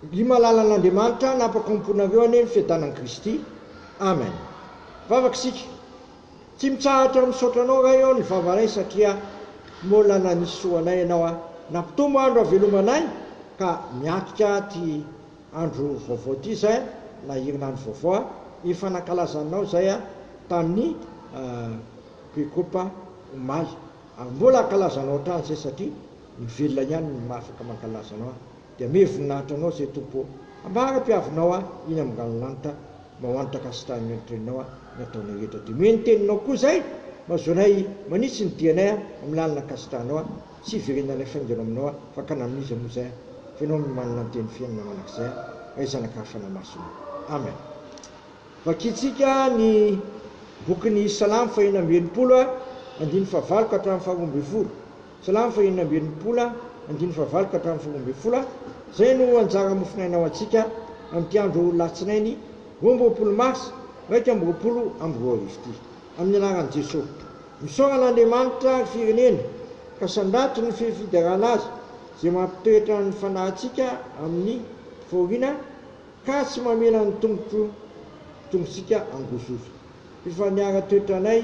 Mby mahalala an'Andriamanitra hanapa-kompona avy eo anie ny fiadanan'i Kristy. Amen. Vavaka isika. Tsy mitsahatra misaotra Anao Ray ô ny vavanay satria mola nanisy soa anay Ianao a. Nampitombo andro havelomanay ka miatrika ty andro vaovao ty zay na herinandro vaovao a. Efa nankalaza Anao zay a tamin'ny Pekopa omaly ary mbola hankalaza Anao hatrany zay satria. Mivelona ihany ny maha afaka mankalaza anao ahy, dia amiha voninahitra anao izay Tompo ô! Ambara mpiavinao ahy iny amin'ny ranolanitra, mahantra kasitahin'ny olon-treninao aho, ny ataonao hetra. Dia mihaino ny teninao koa izay, mahazoanay manitsy ny dianay aho, amin'ny lalana kasitahanao aho, tsy hiverenanay faingana aminao aho, fa ka na amin'iza moa izay aho, fa ianao no manana ny teny fiainana manak'izay aho, ray zanaka ary fanahy masina. Amen. Vakintsika ny bokin'ny Salamo fahena amby enimpolo, andininy fahavalo ka hatramin'ny faharoa ambin'ny folo. Silamo fahiny amby enimpolo, andininy fahavalo ka hatramin'ny folo ambin'ny folo, izay no anjara mofonaina ho antsika amin'ity andro Alatsinainy roa amby roapolo marsa iraika amby roapolo amby roa arivo ity. Amin'ny anaran'i Jesoa. Misaorana Andriamanitra ary Firenena ka sandrato ny fifiderana azy izay mampitoetra ny fanahintsika amin'ny fahoriana ka tsy mamela ny tongotro tongotsika hangozozoka. Efa niara-toetra anay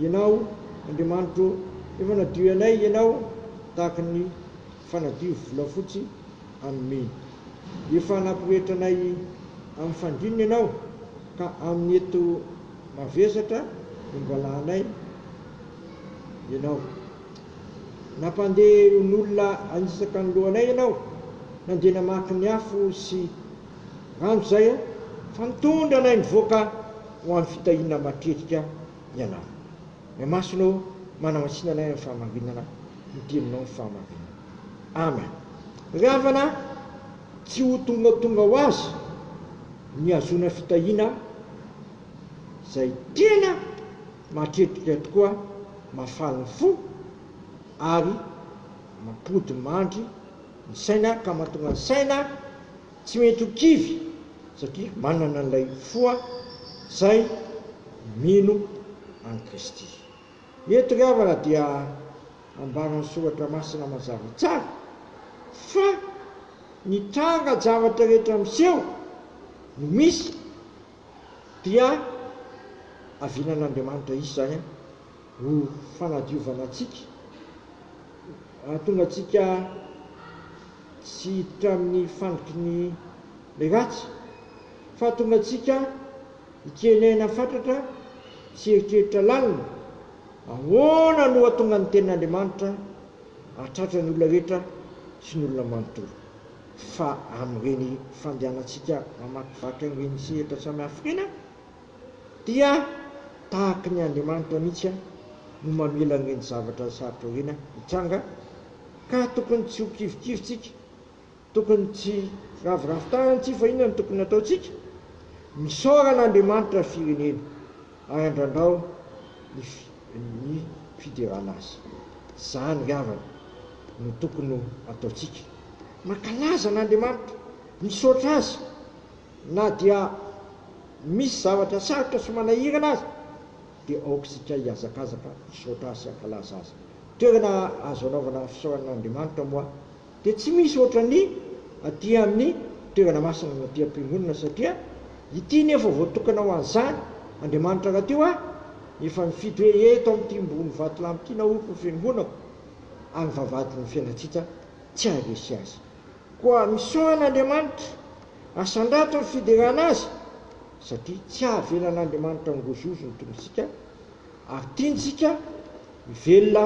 Ianao, Andriamanitro ô, efa nadio anay Ianao tahaka ny fanadio volafotsy amin'ny mena. Efa nampirehetra anay amin'ny fandriana Ianao, ka amin'ny eto mavesatra nongalahanay Ianao. Nampandeha eo n'olona hanitsaka ny lohanay Ianao, nandeha namaky ny afo sy. Rano izay a! Fa mitondra anay mivoaka ho amin'ny fitahiana matetika Ianao. Ny Amasonao manamatsina anay amin'ny fahamarinana ny Teninao ny fahamarinana. Amen. Ry havana a! Tsy ho tongatonga ho azy ny hahazoana fitahiana izay tena matetika tokoa mahafaly ny fo ary mampodimandry ny saina ka mahatonga ny saina tsy mety ho kivy satria manana an'ilay foa izay mino an'i Kristy. Eto ry havana dia ambaran'ny soratra masina mazava tsara fa ny tranga zavatra rehetra miseho no misy dia avinan'Andriamanitra hisy izany an! Ho fanadiovana antsika, hahatonga antsika tsy hiditra amin'ny fandriky ny ratsy, fa hahatonga antsika hitenena fatratra sy hieritreritra lalina, ahoana no hahatonga ny Tenin'Andriamanitra hahatratra ny olona rehetra sy ny olona manontolo, fa amin'ireny fandehanantsika mamakivaky an'ireny sehatra samy hafa ireny aho. dia tahaka ny Andriamanitra mihitsy no mamela an'ireny zavatra sarotra ireny hitranga ka tokony tsy ho kivikivy tsika, tokony tsy ravoravo tanana tsika fa inona no tokony hataontsika? Misaora an'Andriamanitra ny firenena ary andrandrao ny fiderana azy. Izany ry havana no tokony ho ataontsika. Mankalaza an'Andriamanitra, misaotra azy. Na dia misy zavatra sarotra sy manahirana aza dia aoka isika hihazakazaka hisaotra Azy sy hankalaza Azy. Ny toerana azo anaovana fisaorana an'Andriamanitra moa dia tsy misy ohatran'ny aty amin'ny toerana masina na aty am-piangonana satria ity anie efa voatokana ho an'izany. Andriamanitra rahateo ary efa nifidy hoe eto amin'ity mbony vatolampy ity naoriko ny fiangonako ary vavahadin'ny fiainantsika tsy haharesy azy. Koa misaona Andriamanitra, asandrato ny fiderana Azy, satria tsy havelan'Andriamanitra hangozohozo ny tombontsika, ary tiantsika hivelona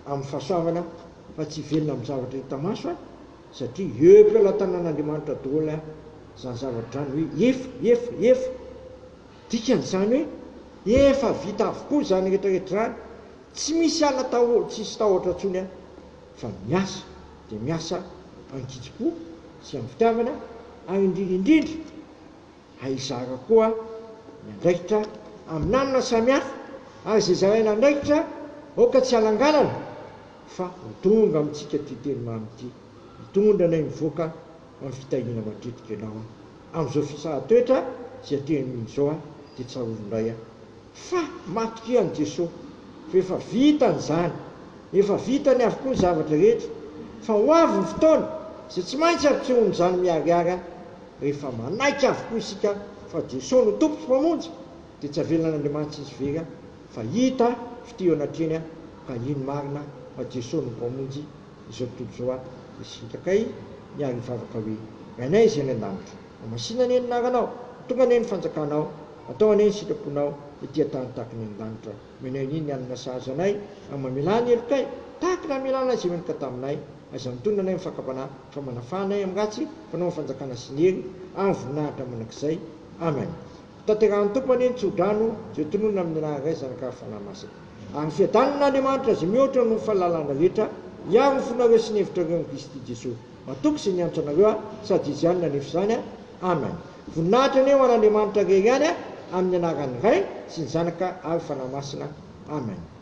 amin'ny fahasoavana fa tsy hivelona amin'ny zavatra hita maso, satria eo am-pelatanan'Andriamanitra daholo izany zavatra izany hoe efa, efa, efa. Dikany izany hoe efa vita avokoa izany rehetra rehetra izany, tsy misy ala taho, tsisy tahotra intsony fa miasa. dia miasa an-kitsim-po sy amin'ny fitiavana ary indrindra indrindra ahizara koa ny andraikitra amin'anona samihafa ary izay zaraina andraikitra aoka tsy halangalana fa ho tonga amintsika ity teny mamy ity hitondra anay mivoaka amin'ny fitahiana matetika ianao amin'izao fisara-toetra izay teo amin'izao dia tsarovy indray aho Fa matokia an'i Jesoa, fa efa vitany izany, efa vitany avokoa ny zavatra rehetra, fa ho avy ny fotoana izay tsy maintsy ampitsohoan'izany miharihary any, rehefa manaiky avokoa isika fa Jesoa no Tompo sy Mpamonjy, dia tsy avelan'Andriamanitra izy very any, fa hita fitia eo anatrehany any, ka hino marina fa Jesoa no Mpamonjy izao tontolo izao any, dia sitrakay miarivavaka hoe, Rainay izay any an-danitra. Hamasina anie ny anaranao, tonga anie ny fanjakanao, atao anie ny sitraponao ety an-tany tahaka ny any lanitra. Omena anie ny alina sahaza anay, ary mamelà ny helokay tahaka ny hamelàna izay meloka taminay. Aza mitonona anay amin'ny fakam-panahy, fa manafaha anay amin'ny ratsy, fanao ny fanjakana sy ny hery, ary ny voninahitra mandrakizay. Amen. Hotanterahin'ny Tompo anie ny tsodrano izay tononina amin'ny anaran'ny Ray, Zanaka, ary Fanahy Masina. Ary fiadanana an'Andriamanitra izay mihoatra noho ny fahalalana rehetra, hiaro ny fonareo sy ny hevitrareo amin'i Kristy Jesoa. Matoky sy mianatra anareo aho sady izy ihany nanefy izany a Amen Voninahitra anie ho an'Andriamanitra irery ihany a Amin'ny anaran'ny Ray sy ny Zanaka ary Fanahy Masina Amen.